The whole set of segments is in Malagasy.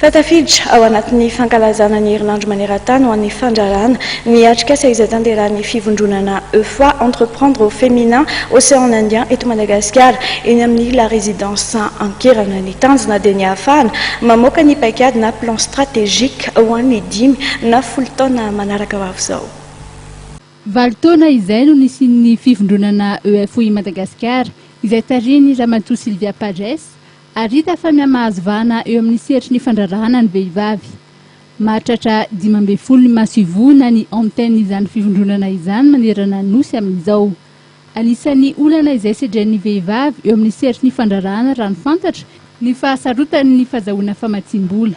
Fa tafiditra ao anatin'ny fankalazana ny herinandro maneran-tany ho an'ny fandraràna ny atrikasa izay tanterahan'ny fivondronana Eufwa, Entreprendre au Féminin Océan Indien, eto Madagasikara, eny amin'ny La Résidence Ankerana. Ny tanjona dia ny hahafahana mamoaka ny paikady na plan stratégique ho an'ny dimy na folo taona manaraka ho avy izao. Valo taona izay no nisian'ny fivondronana Eufwa i Madagasikara, izay tarihin'i Ramatoa Sylvia Pages, Ary hita fa mihamahazo vahana eo amin'ny sehatry ny fandraharahana ny vehivavy. Mahatratra dimy ambin'ny folo ny maso ivohona ny antenne izany fivondronana izany manerana ny Nosy amin'izao. Anisan'ny olana izay sedren'ny vehivavy eo amin'ny sehatry ny fandraharahana raha ny fantatra ny fahasarotany ny fazahoana famatsiam-bola.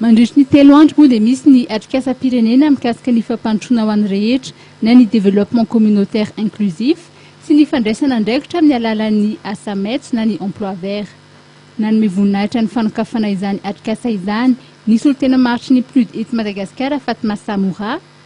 Mandritry ny telo andro moa dia misy ny atrikasam-pirenena mikasika ny fampandrosoana ho an'ny rehetra na ny développement communautaire inclusif sy ny fandraisana andraikitra amin'ny alalan'ny asa maitso na ny emploi vert. Nanome voninahitra ny fanokafana izany atrikasa izany ny solontena maritry ny PNUD eto Madagasikara Fatma Samoura,